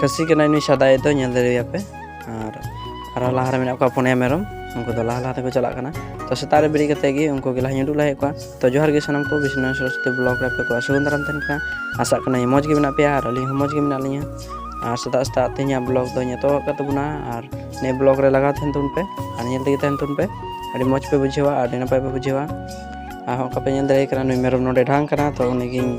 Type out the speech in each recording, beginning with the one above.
ᱠᱷᱟᱹᱥᱤ ᱠᱟᱱᱟᱭ ᱱᱩᱭ ᱥᱟᱫᱟᱭ ᱫᱚ ᱧᱮᱞ ᱫᱟᱲᱮᱭᱟᱯᱮ ᱟᱨ ᱟᱨ ᱞᱟᱦᱟ ᱨᱮ ᱢᱮᱱᱟᱜ ᱠᱚᱣᱟ ᱯᱩᱱᱭᱟ ᱢᱮᱨᱚᱢ ᱩᱱᱠᱩ ᱫᱚ ᱞᱟᱦᱟ ᱞᱟᱦᱟ ᱛᱮᱠᱚ ᱪᱟᱞᱟᱜ ᱠᱟᱱᱟ ᱛᱚ ᱥᱮᱛᱟᱜ ᱨᱮ ᱵᱮᱨᱮᱫ ᱠᱟᱛᱮ ᱜᱮ ᱩᱱᱠᱩ ᱜᱮ ᱞᱟᱦᱟᱧ ᱩᱰᱩᱠ ᱞᱟᱦᱟᱭᱮᱫ ᱠᱚᱣᱟ ᱛᱚ ᱡᱚᱦᱟᱨ ᱜᱮ ᱥᱟᱱᱟᱢ ᱠᱚ ᱵᱤᱥᱱᱩ ᱥᱚᱨᱚᱥᱚᱛᱤ ᱵᱞᱚᱜ ᱨᱮ ᱟᱯᱮ ᱠᱚ ᱥᱟᱹᱜᱩᱱ ᱫᱟᱨᱟᱢ ᱛᱟᱦᱮᱱ ᱠᱟᱱᱟ ᱟᱥᱟᱜ ᱠᱟᱹᱱᱟᱹᱧ ᱢᱚᱡᱽ ᱜᱮ ᱢᱮᱱᱟᱜ ᱯᱮᱭᱟ ᱟᱨ ᱟᱹᱞᱤᱧ ᱦᱚᱸ ᱢᱚᱡᱽ ᱜᱮ ᱢᱮᱱᱟᱜ ᱞᱤᱧᱟ ᱟᱨ ᱥᱮᱛᱟᱜ ᱥᱮᱛᱟᱜ ᱛᱮᱦᱮᱧᱟᱜ ᱵᱞᱚᱜ ᱫᱚ ᱧᱮᱛᱚᱜ ᱟᱠᱟᱫ ᱛᱟᱵᱚᱱᱟ ᱟᱨ ᱱᱤᱭᱟᱹ ᱵᱞᱚᱜ ᱨᱮ ᱞᱟᱜᱟᱣ ᱛᱟᱦᱮᱱ ᱛᱟᱵᱚᱱ ᱯᱮ ᱟᱨ ᱧᱮᱞ ᱛᱮᱜᱮ ᱛᱟᱦᱮᱱ ᱛᱟᱵᱚᱱ ᱯᱮ ᱟᱹᱰᱤ ᱢᱚᱡᱽ ᱯᱮ ᱵᱩᱡᱷᱟᱹᱣᱟ ᱟᱹᱰᱤ ᱱᱟᱯᱟᱭ ᱯᱮ ᱵᱩᱡᱷᱟᱹᱣᱟ ᱟᱨ ᱦᱚᱸ ᱚᱱᱠᱟ ᱯᱮ ᱧᱮᱞ ᱫᱟᱲᱮᱭᱟᱜ ᱠᱟᱱᱟ ᱱᱩᱭ ᱢᱮᱨᱚᱢ ᱱᱚᱰᱮ ᱰᱷᱟᱝ ᱠᱟᱱᱟ ᱛᱚ ᱩᱱᱤᱜᱤᱧ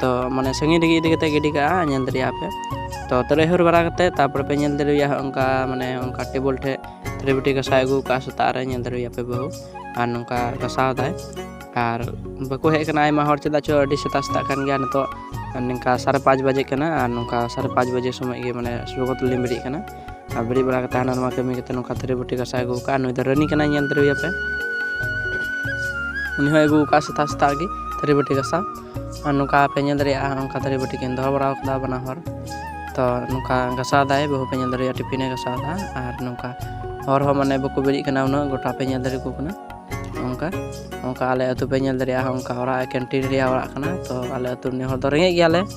ᱛᱚ ᱢᱟᱱᱮ ᱥᱟᱺᱜᱤᱧ ᱨᱮᱜᱮ ᱤᱫᱤ ᱠᱟᱛᱮ ᱜᱤᱰᱤ ᱠᱟᱜᱼᱟ ᱧᱮᱞ ᱫᱟᱲᱮᱭᱟᱜᱼᱟ ᱯᱮ ᱛᱚ ᱛᱟᱦᱞᱮ ᱦᱟᱹᱨ ᱵᱟᱲᱟ ᱠᱟᱛᱮ ᱛᱟᱨᱯᱚᱨᱮ ᱯᱮ ᱧᱮᱞ ᱫᱟᱲᱮᱭᱟᱜᱼᱟ ᱚᱱᱠᱟ ᱢᱟᱱᱮ ᱚᱱᱠᱟ ᱴᱮᱵᱚᱞ ᱴᱷᱮᱡ ᱛᱷᱟᱹᱨᱤ ᱵᱟᱹᱴᱤ ᱜᱟᱥᱟᱣ ᱟᱹᱜᱩ ᱠᱟᱜᱼᱟ ᱥᱮᱛᱟᱜ ᱨᱮ ᱧᱮᱞ ᱫᱟᱲᱮᱭᱟᱜᱼᱟ ᱯᱮ ᱵᱟᱹᱦᱩ ᱟᱨ ᱱᱚᱝᱠᱟ ᱜᱟᱥᱟᱣ ᱫᱟᱭ ᱟᱨ ᱵᱟᱠᱚ ᱦᱮᱡ ᱠᱟᱱᱟ ᱟᱭᱢᱟ ᱦᱚᱲ ᱪᱮᱫᱟᱜ ᱪᱚ ᱟᱹᱰᱤ ᱥᱮᱛᱟᱜ ᱥᱮᱛᱟᱜ ᱠᱟᱱ ᱜᱮᱭᱟ ᱱᱤᱛᱚᱜ ᱱᱚᱝᱠᱟ ᱥᱟᱲᱮ ᱯᱟᱸᱪ ᱵᱟᱡᱮ ᱠᱟᱱᱟ ᱟᱨ ᱱᱚᱝᱠᱟ ᱥᱟᱲᱮ ᱯᱟᱸᱪ ᱵᱟᱡᱮ ᱥᱚᱢᱚᱭ ᱜᱮ ᱢᱟᱱᱮ ᱥᱚᱨᱵᱚᱛ ᱞᱤᱧ ᱵᱮᱨᱮᱫ ᱠᱟᱱᱟ ᱟᱨ ᱵᱮᱨᱮᱫ ᱵᱟᱲᱟ ᱠᱟᱛᱮ ᱦᱟᱱᱟ ᱱᱚᱣᱟ ᱠᱟᱹᱢᱤ ᱠᱟᱛᱮ ᱱᱚᱝᱠᱟ ᱛᱷᱟᱹᱨᱤ ᱵᱟᱹᱴᱤ ᱜᱟᱥᱟᱣ ᱟᱹᱜᱩ ᱠᱟᱜᱼᱟ ᱱᱩᱭ ᱫᱚ ᱨᱟᱹᱱᱤ ᱠᱟᱱᱟᱭ ᱧᱮᱞ ᱫᱟᱲᱮᱭᱟᱯᱮ ᱩᱱᱤ ᱦᱚᱸ ᱟᱹᱜᱩ ᱠᱟᱜᱼᱟ ᱥᱮᱛᱟᱜ ᱥᱮᱛᱟᱜ ᱜᱮ ᱛᱷᱟᱹᱨᱤ ᱵᱟᱹᱴᱤ ᱜᱟᱥᱟᱣ ᱟᱨ ᱱᱚᱝᱠᱟ ᱯᱮ ᱧᱮᱞ ᱫᱟᱲᱮᱭᱟᱜᱼᱟ ᱱᱚᱝᱠᱟ ᱛᱷᱟᱹᱨᱤ ᱵᱟᱹᱴᱤ ᱠᱤᱱ ᱫᱚᱦᱚ ᱵᱟᱲᱟ ᱠᱟᱫᱟ ᱵᱟᱱᱟ ᱦᱚᱲ ᱛᱚ ᱱᱚᱝᱠᱟ ᱜᱟᱥᱟᱣ ᱫᱟᱭ ᱵᱟᱹᱦᱩ ᱯᱮ ᱧᱮᱞ ᱫᱟᱲᱮᱭᱟᱜᱼᱟ ᱴᱤᱯᱷᱤᱱᱮ ᱜᱟᱥᱟᱣ ᱫᱟ ᱟᱨ ᱱᱚᱝᱠᱟ ᱦᱚᱲ ᱦᱚᱸ ᱢᱟᱱᱮ ᱵᱟᱠᱚ ᱵᱮᱨᱮᱫ ᱠᱟᱱᱟ ᱩᱱᱟᱹᱜ ᱜᱚᱴᱟ ᱯᱮ ᱧᱮᱞ ᱫᱟᱲᱮ ᱠᱚ ᱠᱟᱱᱟ ᱚᱱᱠᱟ ᱚᱱᱠᱟ ᱟᱞᱮ ᱟᱹᱛᱩ ᱯᱮ ᱧᱮᱞ ᱫᱟᱲᱮᱭᱟᱜᱼᱟ ᱚᱱᱠᱟ ᱚᱲᱟᱜ ᱠᱮᱱᱴᱤᱱ ᱨᱮᱭᱟᱜ ᱚᱲᱟᱜ ᱠᱟᱱᱟ ᱛᱚ ᱟᱞᱮ ᱟᱹᱛᱩ ᱨᱤᱱᱤᱡ ᱦᱚᱲ ᱫᱚ ᱨᱮᱸᱜᱮᱡ ᱜᱮᱭᱟᱞᱮ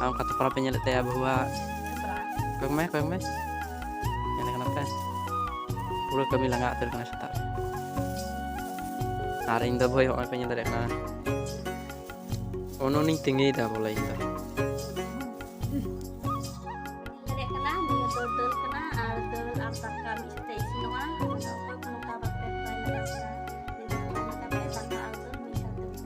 ᱟᱨ ᱚᱱᱠᱟ ᱛᱚᱯᱨᱟ ᱯᱮ ᱧᱮᱞᱮᱫ ᱛᱟᱭᱟ ᱵᱟᱹᱦᱩᱣᱟᱜ ᱠᱚᱭᱚᱜ ᱢᱮ ᱠᱚᱭᱚᱜ ᱢᱮ ᱧᱮᱞ ᱠᱟᱱᱟ ᱯᱮ ᱯᱩᱨᱟᱹ ᱠᱟᱹᱢᱤ ᱞᱟᱸᱜᱟ ᱩᱛᱟᱹᱨ ᱠᱟᱱᱟ ᱥᱮᱛᱟᱜ ᱟᱨ ᱤᱧ ᱫᱚ ᱵᱷᱟᱹᱭ ᱦᱚᱸᱜᱼᱚᱭ ᱯᱮ ᱧᱮᱞ ᱫᱟᱲᱮᱭᱟᱜ ᱠᱟᱱᱟ ᱚᱱᱚᱱᱤᱧ ᱛᱤᱸᱜᱤᱭᱮᱫᱟ ᱵᱚᱞᱮ ᱤᱧ ᱫᱚ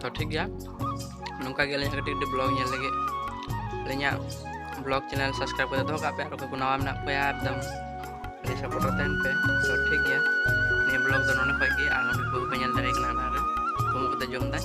ᱛᱚ ᱴᱷᱤᱠ ᱜᱮᱭᱟ ᱱᱚᱝᱠᱟ ᱜᱮ ᱟᱹᱞᱤᱧ ᱠᱟᱹᱴᱤᱡ ᱠᱟᱹᱴᱤᱡ ᱵᱞᱚᱜ ᱧᱮᱞ ᱞᱟᱹᱜᱤᱫ ᱟᱹᱞᱤᱧᱟᱜ ᱵᱞᱚᱜ ᱪᱮᱱᱮᱞ ᱥᱟᱵᱥᱠᱨᱟᱭᱤᱵ ᱠᱟᱛᱮ ᱫᱚᱦᱚ ᱠᱟᱜ ᱯᱮ ᱟᱨ ᱚᱠᱚᱭ ᱠᱚ ᱱᱟᱣᱟ ᱢᱮᱱᱟᱜ ᱠᱚᱣᱟ ᱮᱠᱫᱚᱢ ᱟᱹᱰᱤ ᱥᱟᱯᱳᱨᱴ ᱨᱮ ᱛᱟᱦᱮᱱ ᱯᱮ ᱛᱚ ᱴᱷᱤᱠ ᱜᱮᱭᱟ ᱱᱤᱭᱟᱹ ᱵᱞᱚᱜ ᱫᱚ ᱱᱚᱰᱮ ᱠᱷᱚᱡ ᱜᱮ ᱟᱨ ᱱᱚᱰᱮ ᱠᱚ ᱯᱮ ᱧᱮᱞ ᱫᱟᱲᱮᱭᱟᱜ ᱠᱟᱱᱟ ᱚᱱᱟᱨᱮ ᱠᱚᱢ ᱠᱟᱛᱮ ᱡᱚᱢ ᱫᱟᱭ